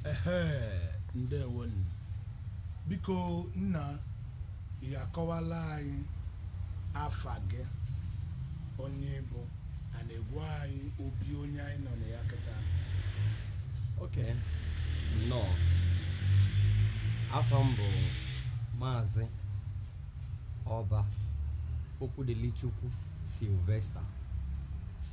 Ehee, ndewonu. Biko nna, ị akọwala anyị afa gị, onye ị bụ, a na-agwa anyị obi onye anyị nọ na ya kịta. Okay, nnọọ. Afa m bụ Maazị Ọba Okwudilichukwu Sylvester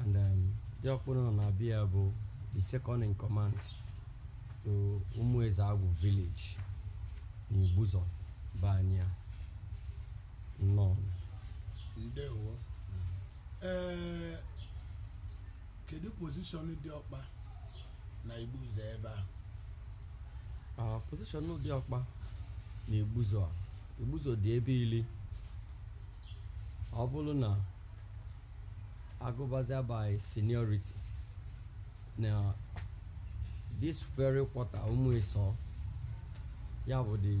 and um, Diọkpa unu nọ na be ya bụ the second in command to Umuezeagwu village na Igbuzo be anyị a nnọọ ndewo ee kedu position Diọkpa na Igbuzo ebe a Ah, position Diọkpa na Igbuzo a Igbuzo dị ebe ili ọ bụlụ na agụbazia by seniority na this very quarter Umuisor ya bụ the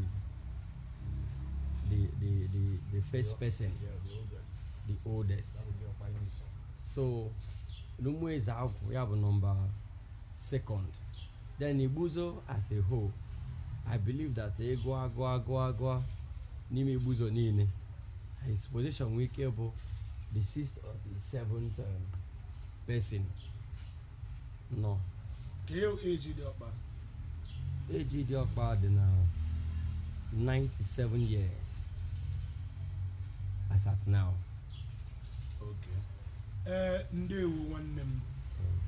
the the the the first person the oldest so n'Umuezeagwu ya bụ number second Then Igbuzo as a whole, I believe that ị gụa, a gụa, a gụa, a gụa n'ime Igbuzo niine, his position nwee ike bụ the sixth or the seventh um, person. Nnọọ. Kee age Diọkpa? Age Diọkpa dị na 97 years as at now. Okay. ee ndewo nwanne m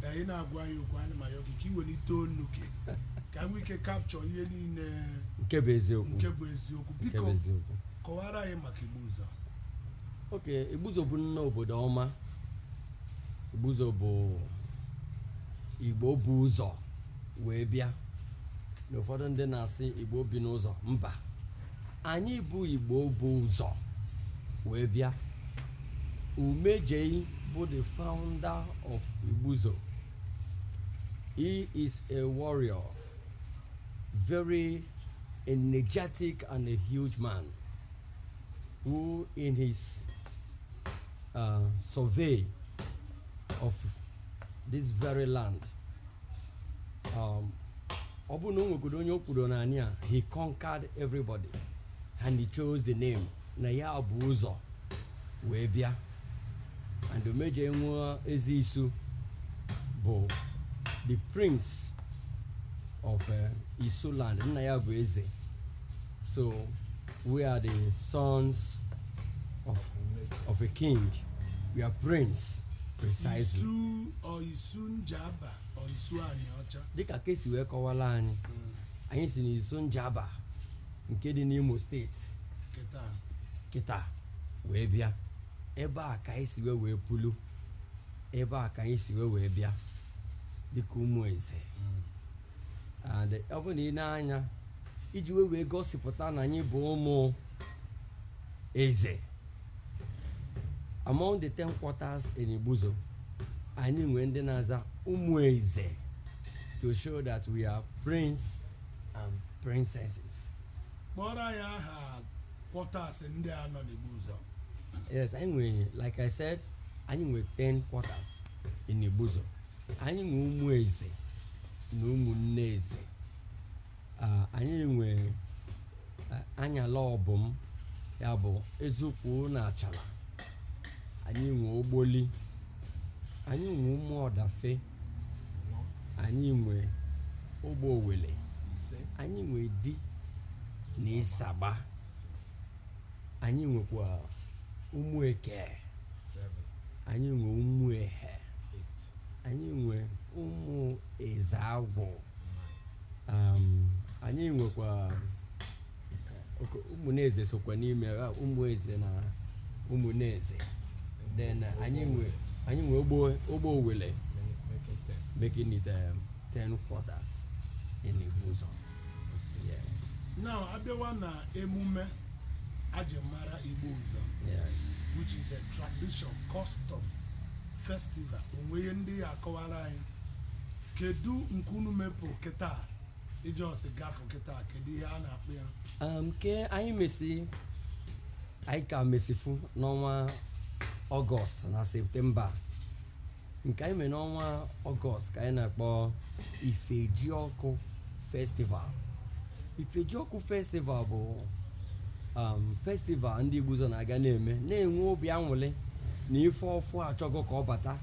ka ị na-agwa anyị okwu ana m ayọ gị ka ị welite onu gị ka anyị nwee ike capture ihe niine nke bụ eziokwu nke bụ eziokwu biko kọwara anyị maka Igbuzo Okay Igbuzo bụ nnọọ obodo ọma Igbuzo bụ Igbo bu ụzọ wee bịa na ụfọdụ ndị na-asị Igbo bi n'ụzọ mba anyị bụ Igbo bu ụzọ wee bịa Umejei bụ the founder of Igbuzo he is a warrior very energetic and a huge man who in his uh, survey of this very land um, ọ bụrụ na o nwegodo onye o kwuru n'anị a he conquered everybody and he chose the name na ya bu ụzọ wee bịa and Umejei nwa Eze Isu bụ the prince of uh, isu land nna ya bụ eze so we are the sons of, of a king we are prince precisely Isu or Isu Njaba. isu anịọcha dịka ka esi wee kọwala anyị anyị si n'isu njaba nke dị n'imo steeti kịta kịta wee bịa ebe a ka anyị si wee wee pụlụ ebe a ka anyị si wee wee bịa dịka ụmụ eze and ọ bụ na ine anya iji wee wee gosipụta na anyị bụ ụmụ eze among the ten quarters in Igbuzo anyị nwee ndị na-aza ụmụ eze to show that we are prince and princesses kpọrọ anyị aha quarters ndị a nọ n'Igbuzo yes anyị nwere like i said anyị nwee 10 quarters in Igbuzo anyị nwee ụmụ eze na ụmụnne eze Ah, anyị nwee ah, anyala ọbụm ya bụ ezukwu na achala anyị nwee ogboli anyị nwee ụmụ ọdafe anyị nwee ogbe owele ise anyị nwee idi na ịsagba anyị nwekwa ụmụ eke seven anyị nwee ụmụ ehe eight anyị nwe ụmụ eze agwụ um, anyị nwekwa oke- ụmụneze sokwa n'ime ha, ụmụ eze na ụmụneze then uh, anyị nwe anyị nwe ogbe ogbe owele making it um, 10 quarters in Igbuzo yes now abịawa na emume e ji mara Igbuzo yes which is a tradition custom festival o nwe ihe ndị ị ya-akọwara anyị kedu nke unu mepụ kịta i just gafụ kịta kedu ihe a na-akpọ ya um, ke anyị mesi anyị ka mesifu n'ọnwa ọgọst na septemba nke anyị mere n'ọnwa ọgọst ka anyị na-akpọ ifejiọkụ festival ifejiọkụ festival bụ um, festival ndị igbuzo na-aga na-eme na-enwe obi anwụlị na ife ọfụ achọgo ka ọ bata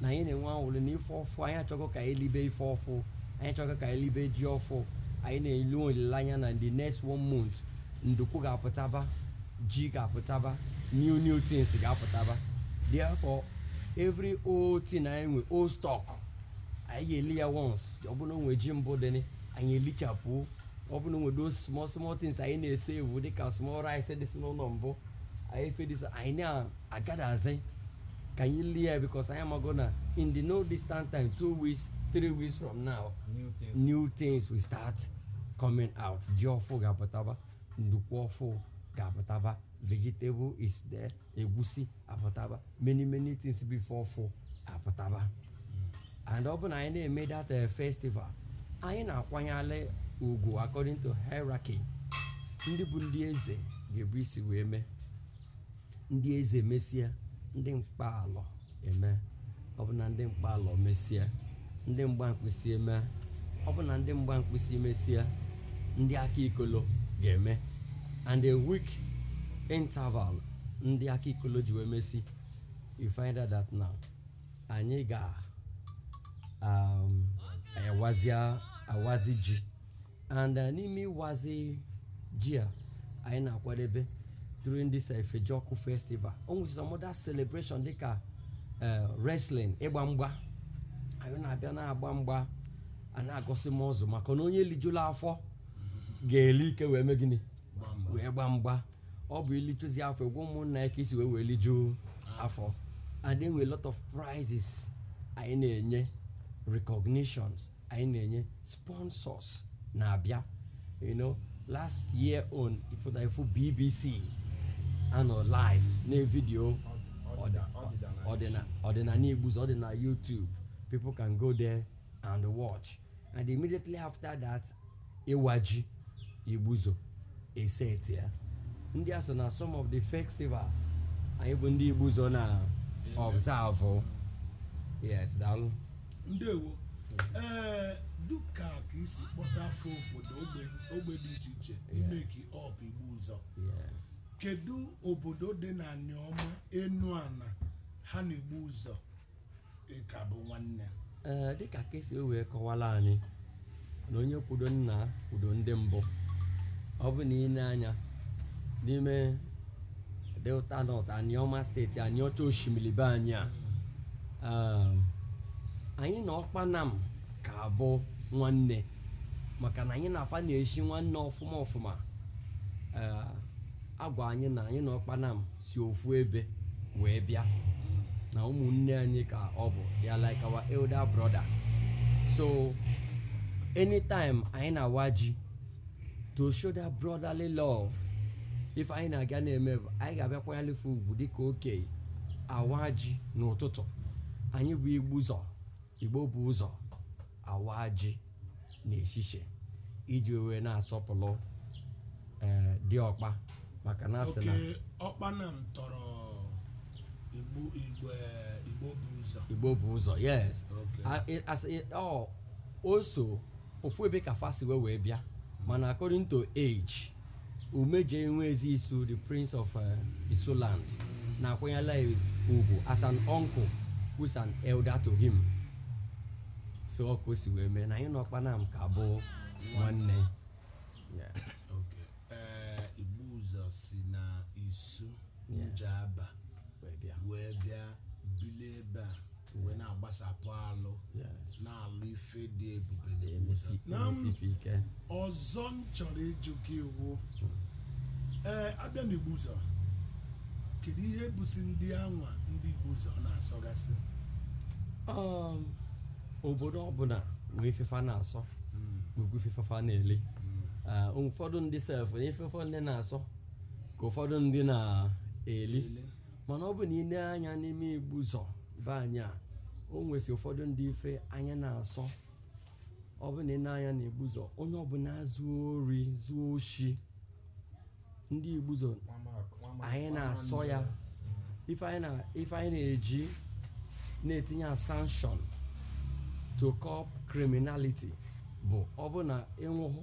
na anyị na-enwe anwụlị na ife ọfụ anyị achọgo ka anyị libe ife ọfụ anyị achọgo ka anyị libe ji ọfụ anyị na-ele olileanya na the next one month ndukwu ga-apụtaba ji ga-apụtaba new new things ga-apụtaba therefore every old thing anyị nwe old stock anyị ga-eli ya once ọ bụrụ na o nwe ji mbụ dị anyị elichapụ ọ bụrụ na o nwe those small small things anyị na-esevu dịka small rice dịsị n'ụlọ mbụ any ife dịsị anyị na-agadazi ka anyị lie ya because anyị amago na in the no distant time two weeks three weeks from now new things, new things will start coming out ji ọfụ ga-apụtaba ndukwu ọfụ ga-apụtaba vegetable is there egwusi apụtaba many many things before ọfụ apụtaba and ọ bụ na anyị na-eme that eh, festival anyị na-akwanyere ugwu according to hierarchy ndị bụ ndị eze ga-ebu isi wee mee ndị eze mesịa ndị mkpalọ eme ọ bụ na ndị mkpalọ mesịa ndị mgba mkpịsị eme ọ bụ na ndị mgba mkpịsị mesịa ndị aka ikolo ga-eme and a week interval ndị aka ikolo ji wee mesị you find out that now anyị ga um, awazia awazi ji and uh, n'ime ịwazi ji a anyị na-akwadebe during this uh, Ifejiọkụ festival o nwere some other celebration dịka uh, wrestling ịgba mgba anyị na-abịa na-agba mgba a na-agosi muscle maka na onye lijula afọ ga-eli ike wee mee gịnị wee gba mgba ọ bụ i lijuzi afọ egwu ụmụnna ya ka i si wee wee lijuo afọ and then we a lot of prizes anyị na-enye recognitions anyị na-enye sponsors na-abịa you know last year own ị- ị fụ bbc anọ live na vidio ọdịna ọdịnala igbuzo ọ dị na youtube people can go there and watch and immediately after that ịwa ji igbuzo esetịa ndị a so na some of the festivals anyị bụ ndị igbuzo na-observe yes daalụ ndewo ee dịka ka i si kpọsa afa obodo ogbe- ogbe dị iche iche make up igbuzo yes kedu obodo dị na Anioma Enuana ha na igbuzo ka bụ nwanne ee dịka ka e si wee kọwalụ anyị na onye kwudo nna kwudo ndị mbụ ọ bụ na i nee anya n'ime delta north aniọma steeti aniọcha oshimili be anyị a um, anyị na ọkpanam ka bụ nwanne maka na anyị na fa na-eshi nwanne ọfụma ọfụma ee a gwa anyị na anyị na ọkpanam si ofu ebe wee bịa na ụmụnne anyị ka ọ bụ they are like our elder brother so anytime anyị na-awa ji to show that brotherly love ife anyị na-aga na-eme bụ anyị ga-abịa kwanyelị fa ugwu dịka okei awa ji n'ụtụtụ anyị bụ igbuzo Igbo bu ụzọ awa ji n'eshishe iji wee na-asọpụrụ ee diọkpa maka na a sị na ọkpanam tọrọ igbo igbo eh, igbo bu ụzọ Igbo bu ụzọ yes Okay. A- ị- as- ị- ọ o so ofu ebe ka fa si wee wee bịa mana according to age Umejei nwa eze Isu, the prince of uh, Isuland, na-akwanyela ya ugwu as an uncle who is an elder to him. So ọ ka o si wee mee na anyị na Ọkpanam ka bụ nwanne. Yes. Okay. Ee, Igbuzọ si na Isu Yeah. Njaba Wee bịa. wee bịa bilie ebe a wee na-agbasapụ alụ Yes. na-alụ ife dị ebube na ebube. Emesi Na m- emesife ike. ọzọ m chọrọ ịjụ gị wụ ee a bịa na Igbuzọ kedu ihe bụsi ndị anwa ndị Igbuzọ na-asọgasị Um, obodo ọbụla nwee ife fa na-asọ nwekwa ife fa na-eli Ah, ụfọdụ ndị sef na ife ụfọdụ ndị na-asọ ka ụfọdụ ndị na-eli Ele. mana ọ bụ na ị nee anya n'ime Igbuzọ be anyị a o nwesi ụfọdụ ndị ife anyị na-asọ ọ bụ na ị nee anya na Igbuzọ onye ọbụla zuo ori zuo oshi ndị Igbuzọ anyị na-asọ ya ife anyị na- ife anyị na-eji na-etinye a sanction to curb criminality bụ ọ bụ na ị nwụhụ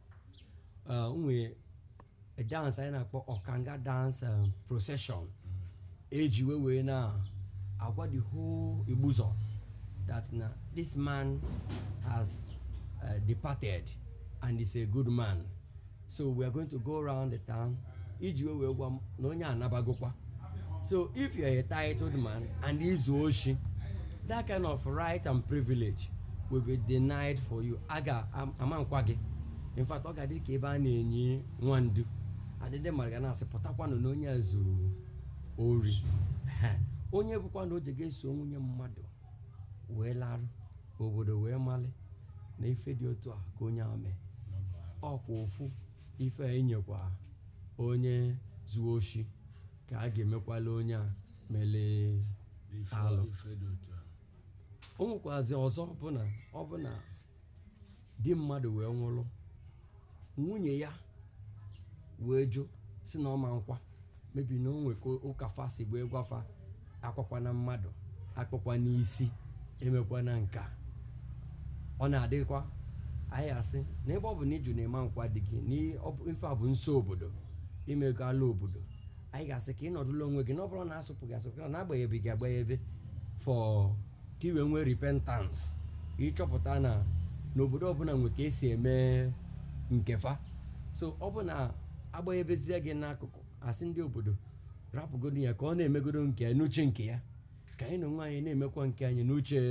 uh, nwee a dance anyị na-akpọ Ọkanga dance um, procession e ji wee wee na-agwa the whole Igbuzọ that na this man has uh, departed and is a good man so we are going to go around the town iji wee wee gwa m na onye a nabagokwa so if you are a titled man and i zuo oshi that kind of right and privilege will be denied for you a ga- a ma nkwa gị in fact ọ ga-adị ka ebe a na-enyi nwa ndu adịdị mara ga na-asị pụtakwanụ na onye a zuru ori onye bụkwa na o ji ga-eso nwunye mmadụ wee larụ obodo wee mali na ife dị otu a ka onye a mee ọkwa ofu ife a enyekwa onye zuo oshi ka a ga-emekwala onye a mele ife Alụ. ife dị otu a o nwekwazi ọzọ bụ na ọ bụ na di mmadụ wee nwụrụ nwunye ya wee jụ sị na ọ ma nkwa maybe na o nwe ka ụka fa si wee gwa fa akwakwana mmadụ akpụkwana isi emekwana nke a ọ na-adịkwa anyị ga-asị na ebe ọ bụ na ị jụ na ị ma nkwa di gị na ị- ọ bụ- ife a bụ nso obodo i mego ala obodo anyị ga-asị ka ị nọdụla onwe gị na ọ bụrụ na a sụpụ gị asụpụ na a gbanyebe gị agbanyebe for ka i wee nwee repentance ị chọpụta na n'obodo ọbụla nwe ka e si eme nke fa so ọ bụ na a gbanyebezie gị n'akụkụ a sị ndị obodo rapụgodo ya ka ọ na-emegodo nke ya n'uche nke ya ka anyị na onwe anyị na-emekwa nke anyị n'uche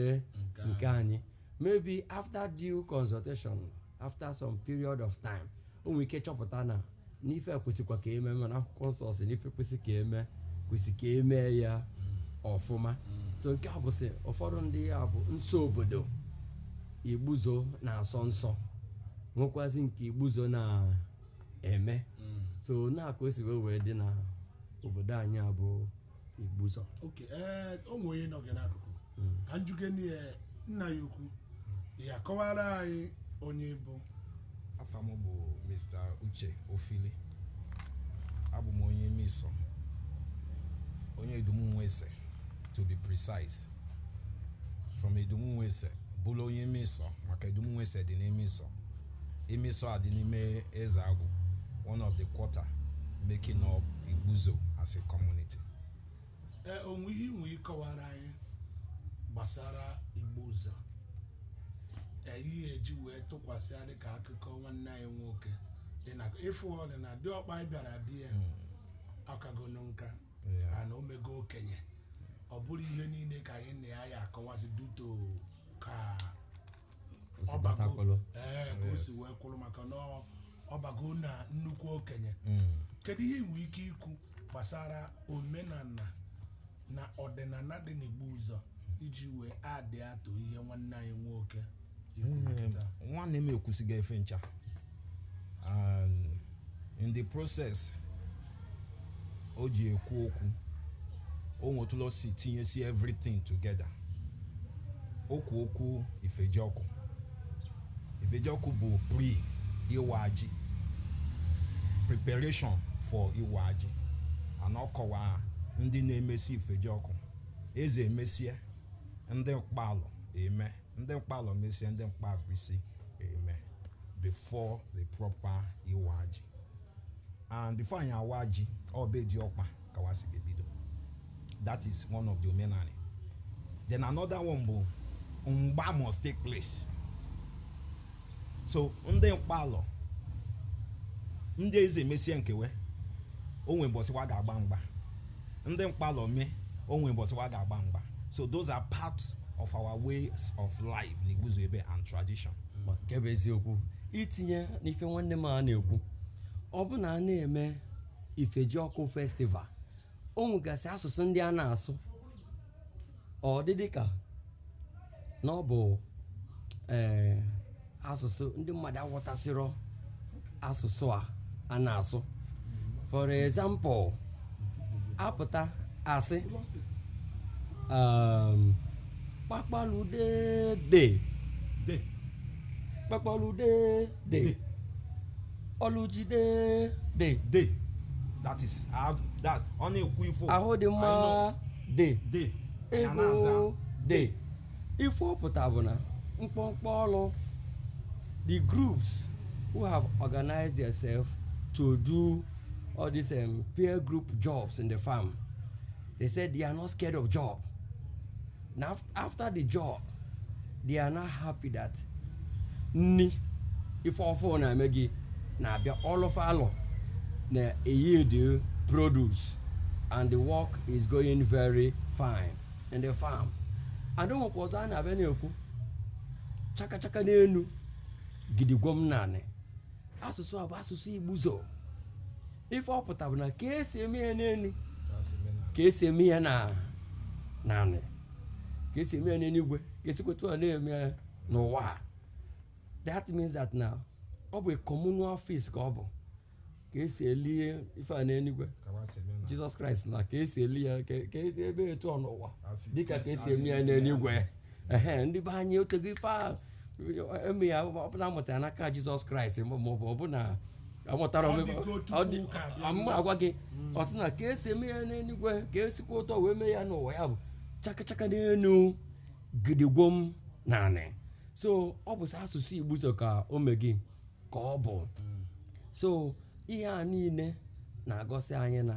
nke anyị maybe after due consultation after some period of time o nwere ike chọpụta na n'ife kwesịkwa ka eme mana akwụkwọ nsọ sị n'ife kwesị ka eme kwesị ka eme ya ọfụma so nke a bụsị ụfọdụ ndị a bụ nsọ obodo igbuzo na-asọ nsọ nwekwazi nke igbuzo na-eme so na-aka o si wee wee dị na obodo anyị a bụ igbuzo okay ee o nwee onye nọ gị n'akụkụ ka m jụkene ya nna anyị ukwu ya kọwara anyị onye ọ bụ afa m bụ mr uche ofili abụ m onye umuisọ onye idumu nwese to be precise from idumu nwese bụlụ onye umuisọ maka idumu nwese dị n'umuisọ umuisọ adị n'ime ezeagwụ one of the quarter making up igbuzo as a community ee o nwe ihe i nwe ịkọwara anyị gbasara igbuzo ee, ihe eji wee tụkwasị ya dịka akụkọ nwanne anyị nwoke dị na ịfụ ọlị na diọkpa anyị bịara bịa akagonu nka Yeah. na o mego okenye ọ bụrọ ihe niile ka anyị na ya ya-akọwazi due to ka O si bata kwụlụ. ee ka o si wee kwụrụ maka na ọ- ọ bago na nnukwu okenye kedu ihe i nwe ike ikwu gbasara omenala na ọdịnala dị n'igbuzo iji wee add to ihe nwanne anyị nwoke kwuru kịta nwanne m ekwusigo ife ncha and in the process o ji ekwu okwu o nwe etu o si tinyesi everything together o kwu okwu ifejiọkụ ifejiọkụ bụ pre iwa ji preparation for iwa ji and ọ kọwaa ndị na-emesi ifejiọkụ eze emesie ndị mkpalọ eme ndị mkpalọ mesie ndị mgbankpisi eme before the proper iwa ji and before anyị awa ji ọ be diọkpa ka wa si ga-ebido that is one of the omenani then another one bụ mgba must take place so ndị mkpalọ ndị eze emesie nke we o nwe mbọsị wa ga-agba mgba ndị mkpalọ mee o nwe mbọsị wa ga-agba mgba so those are part of our ways of life na igbuzo ebe and tradition nke bụ eziokwu itinye n'ife nwanne m a na-ekwu ọ bụ na a na-eme ifejiọkụ festival o nwegasị asụsụ ndị a na-asụ ọ dị dịka na ọ bụ ee asụsụ ndị mmadụ aghọtasịrọ asụsụ a a na-asụ for example a pụta a sị um, kpakpalude de De. kpakpalude de De. ọlụjide de De. That is. ah, That. Ọ na-ekwu ifo. ahụ dị mma dị dị ya na-aza ego dị ife ọ pụta bụ na mkpọmkpọ ọlụ the groups who have organized themselves to do all these um, peer group jobs in the farm they said they are not scared of job na after the job they are now happy that nni ife ọfụ na-eme gị na-abịa ọlụ fa alụ na yield produce and the work is going very fine in the farm and ụmụkwa ọzọ a na-abịa na-ekwu chakachaka n'enu gidigwom n'anị asụsụ a bụ asụsụ igbuzo ife ọ pụta bụ na ka esi eme ya n'enu ka esi eme ya n'anị ka esi eme ya n'enuigwe ka esikwa etu a na-eme ya n'ụwa a. that means that na ọ bụ a communal feast ka ọ bụ ka esi eli ife a n'enuigwe Jesus Christ na ka esi eli ya ka ka ebe etu a n'ụwa dịka ka esi eme ya n'enuigwe ehe ndị be anyị otego ife a eme ya ọ bụ na amụtara n'aka Jesus Christ ma ma ọ bụ ọ bụ na amụtara Ọ omebe- dịgo Chukwu ọ dị- ụka bịa. ọ- mụ agwa gị ọ sị na ka esi eme ya n'enuigwe ka esikwa etu a wee mee ya n'ụwa ya bụ chakachaka n'enu gidigwom n'anị so ọ bụ sọ asụsụ igbuzo ka o mee gị ka ọ bụ so ihe a niine na-agosi anyị na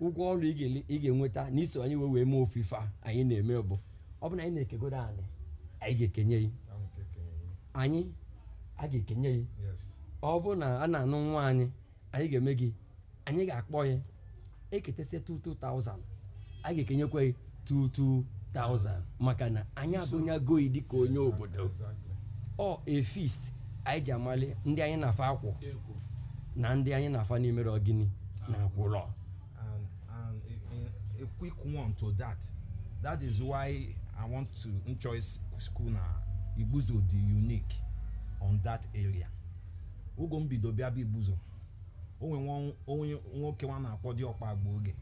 ụgwọ ọlụ ị ga-ele- ị ga-enweta na iso anyị wee wee mee ofu ife a anyị na-eme bụ ọ bụ na anyị na-ekegodo anị anyị ga-ekenye yi Ahụ nke kenye ihe. anyị a ga-ekenye yi Yes. ọ bụ na a na-anụ nwaanyị anyị ga-eme gị anyị ga-akpọ yi eketesịa 2000 a ga-ekenyekwa yi 22,000 maka na anyị agụnyego yi dịka onye obodo ọ a feast anyị ji amali ndị anyị na fa akwụ ekwo na ndị anyị na fa na imere ọ gịnị na akwụlọ and and a, a, a quick one to that that is why i want to choice school na igbuzo dị unique on that area oge mbido bịa bụ igbuzo onwe nwa- onye nwoke nwa a na-akpọ Diọkpa agba oge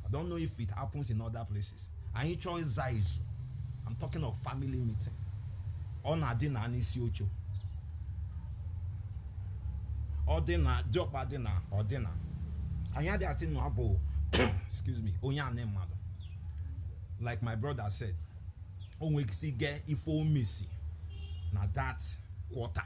I don't know if it happens in other places anyị chọọ ịza izu I'm talking of family meeting ọ na-adị na n'isi oche ọ dị na diọkpa dị na ọ dị na anyị adị asị na ọ bụ excuse me onye anị mmadụ like my brother said o nwere ike si get ife o mesi na that quarter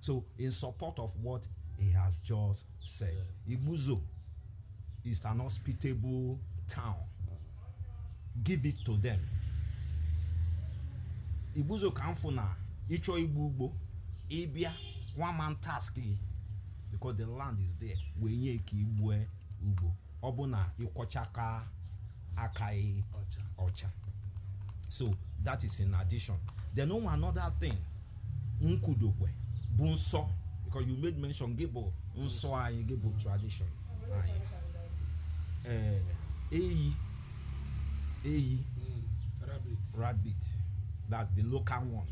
So, in support of what he has just said, Igbuzo is an hospitable town. Give it to them. Igbuzo ka m fụ na ị chọọ igbu ugbo ị bịa one man task because the land is there wee nye ka i gbue ugbo ọ bụ na ị kwọcha aka aka gị ọcha so that is in addition then o nwe another thing m kwudokwe bụ nsọ because you made mention gị bụ nsọ anyị gị bụ tradition anyị ee eyi eyi Mm, rabbit rabbit that's the local one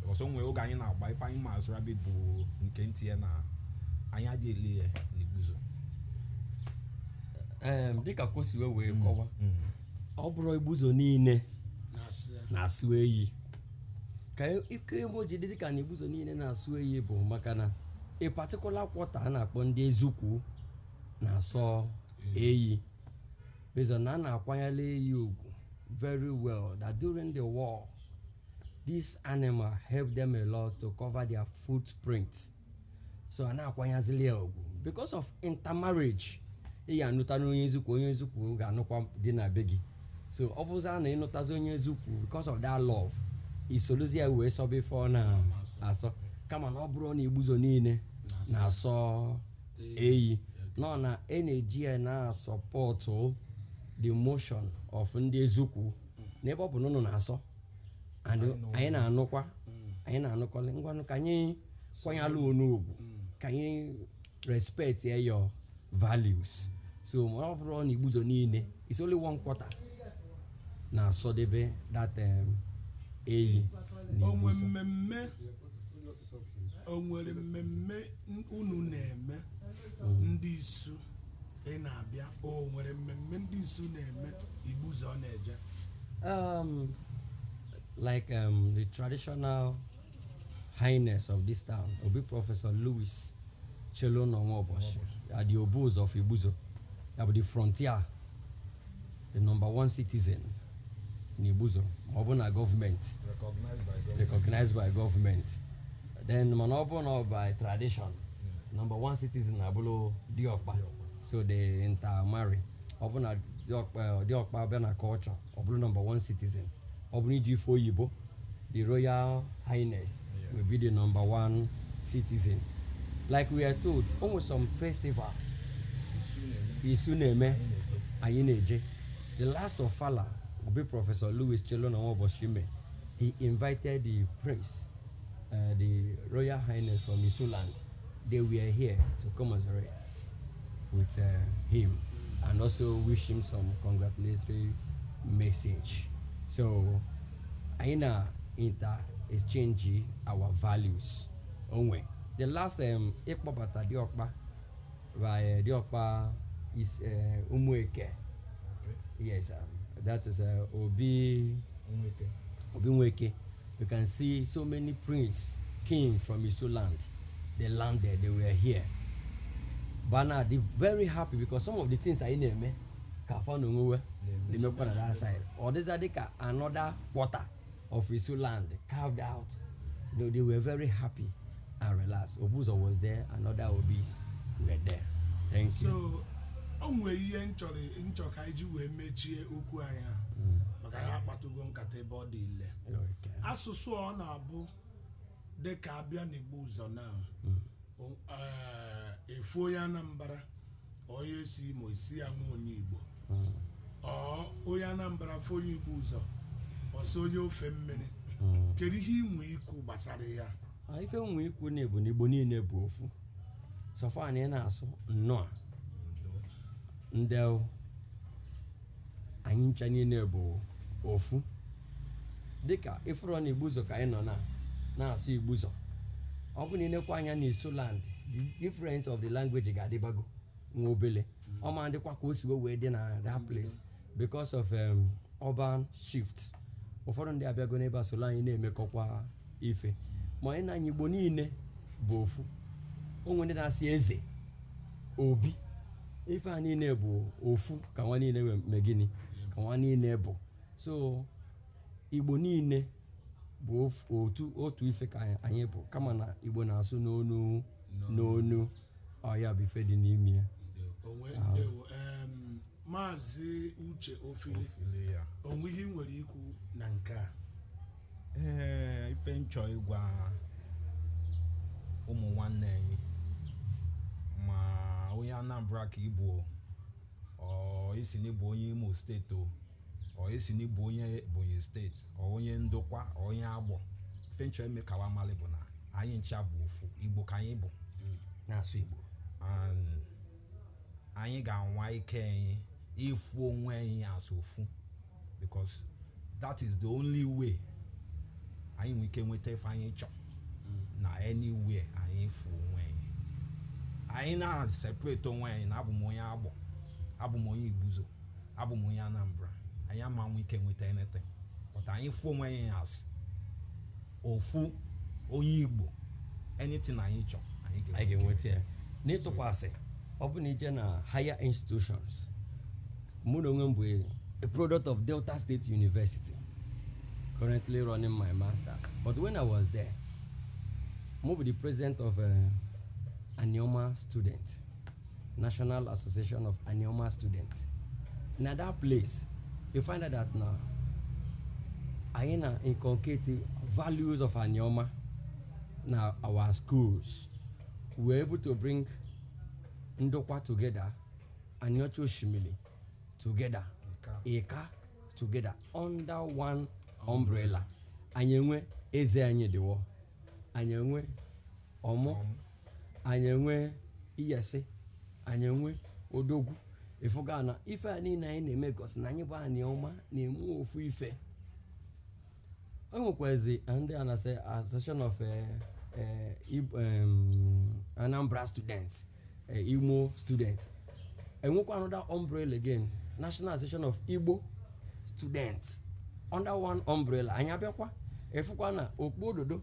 because o nwe oge anyị na-agba ife anyị ma as rabbit bụ nke ntinye na anyị adị eli ya n'Igbuzo em, dịka kwosiwe wee kọwa ọ bụrọ Igbuzo niile na-asọ eyi ka ike ebe o ji dị dịka na Igbuzo niile na-asọ eyi bụ maka na a particular quarter a na-akpọ ndị Ezukwu na-asọ eyi based on na a na-akwanyalụ eyi ugwu very well that during the war this animal helped them a lot to cover their footprint so a na-akwanyazili ya ugwu because of intermarriage ị ya anụta na onye Ezukwu onye Ezukwu ga-anụkwa di na be gị so ọ bụzịa na ị nụtazị onye Ezukwu because of that love i soluzi ya wee sọba ife ọ na-asọ kama na ọ bụrọ na Igbuzo niile na-asọ eyi no na a na-eji ya na-support the motion of ndị Ezukwu n'ebe ọ bụ na unu na-asọ and anyị na-anụkwa anyị na-anụkọlị ngwanụ ka anyị kwanyalụ unu ugwu ka anyị respect ya your values so ma ọ bụrọ na Igbuzo niile it's only one quarter na-asọdebe that um, eyi na onwe igbuzo mmemme o nwere mmemme n- unu na-eme ndị isu ị na-abịa o nwere mmemme ndị isu na-eme igbuzo ọ na-eje um, like um, the traditional Highness of this town, Obi Professor Louis Chelunor Nwaoboshi, ya bụ the Obuzo of Igbuzo, ya bụ the frontier, the number one citizen n'Igbuzo, ma ọ bụ na government recognized by government then mana ọ bụ na by tradition number one citizen abụlụ Diokpa so they intermarry ọ bụ na Diokpa bịa na culture ọ bụlụ number one citizen ọ bụrụ iji ife oyibo the royal highness yeah. will be the number one citizen like we are told o nwe some festivals isu na-eme anyị na-eje the last ofala obi professor louis chelunor nwaoboshi mee he invited the prince uh, the royal highness from isu land they were here to commiserate with uh, him and also wish him some congratulatory message. So, anyị na inter exchange our values o nwe. The last um, ịkpọbata Diọkpa by uh, Diọkpa is uh, Umueke. Yes, um, that is uh, Obi Nweke. Obi Nweke. You can see so many prince, king from Isu land. They landed, they were here. But now they're very happy because some of the things anyị na-eme eh, ka fa na onwe wa they make on the other side. Ọ dịzi ka another quarter of Isu land carved out. They, they were very happy and relaxed. Obuzo was there, and other Obis were there. Thank you. So, o nwere ihe m chọrọ m chọ ka anyị ji wee mechie okwu anyị a. maka anyị akpatugo nkata ebe ọ dị ile Okay. asụsụ ọ na-abụ dịka a bịa n'igbuzọ na o- eh, a fụ onye anambra onye si imo a sị ya nwa onye igbo or onye anambra fụ onye igbuzọ ọ sị onye ofe mmiri kedu ihe i nwe ikwu gbasara ya Ah, ife m nwe ikwu na ya bụ na igbo niine bụ ofu so far anyị na-asụ nnụa ndewo anyị ncha niine bụ ofu dịka ị fụrụ na igbuzọ ka anyị nọ na na-asụ igbuzọ ọ bụ na ị nekwa anya na isu land the difference of the language ga-adịbago nwa obele ọ ma dịkwa ka o si wee dị na that place because of um, urban shift ụfọdụ ndị abịago n'ebe a solo anyị na-emekọkwa ife ma anyị na anyị igbo niile bụ ofu o nwe ndị na-asị eze obi ife a niine bụ ofu ka wa niine mee gịnị ka wa niine bụ so igbo niine bụ of- otu otu ife ka anyị- anyị bụ kama na igbo na-asụ n'onu n'onu ọ ya bụ ife dị n'ime ya Ndewo. Onwe ndewo. Em, maazị uche ofili Ofili ya. o nwe ihe ị nwere ikwu na nke a ee ife m chọ ịgwa ụmụ nwanne anyị ma onye anambra ka ị bụ o, or ị sị na ị bụ onye imo steeti o or ị sị na ị bụ onye ebonyi steeti or onye ndokwa or onye agbọ ife m chọ ime ka wa mali bụ na anyị ncha bụ ofu igbo ka anyị bụ na-asụ igbo and anyị ga-anwa ike anyị ịfụ onwe anyị as ofu because that is the only way anyị nwee ike nweta ife anyị chọ na anywhere anyị fụ onwe anyị anyị na-separate onwe anyị na abụ m onye agbọ abụ m onye igbuzọ abụ m onye Anambra anyị ama nwe ike nweta anything but anyị fụ onwe anyị as ofu onye Igbo anything anyị chọ anyị ga-enweta ya n'ịtụkwasị ọ bụ na i je na higher institutions mụ na onwe m bụ a product of Delta State University currently running my masters but when I was there mụ bụ the president of uh, Anioma student National Association of Anioma Students. Na that place, you find out that na anyị na-inculcate values of Anioma na our schools. We were able to bring Ndokwa together, Aniocha Oshimili together, Ika together under one umbrella. Anyị enwe eze anyị dịwo, anyị enwe ọmụ anyị enwe iyase anyị enwe odogwu ị fụga na ife a niile anyị na-eme gosi na anyị bụ anioma na-eme ofu ife o nwekwazi ndị a na-asị association of eh, eh, Ib- em, anambra student eh, imo student e nwekwa another umbrella again national association of igbo students under one umbrella anyị abịakwa ị fụkwa na okpu ododo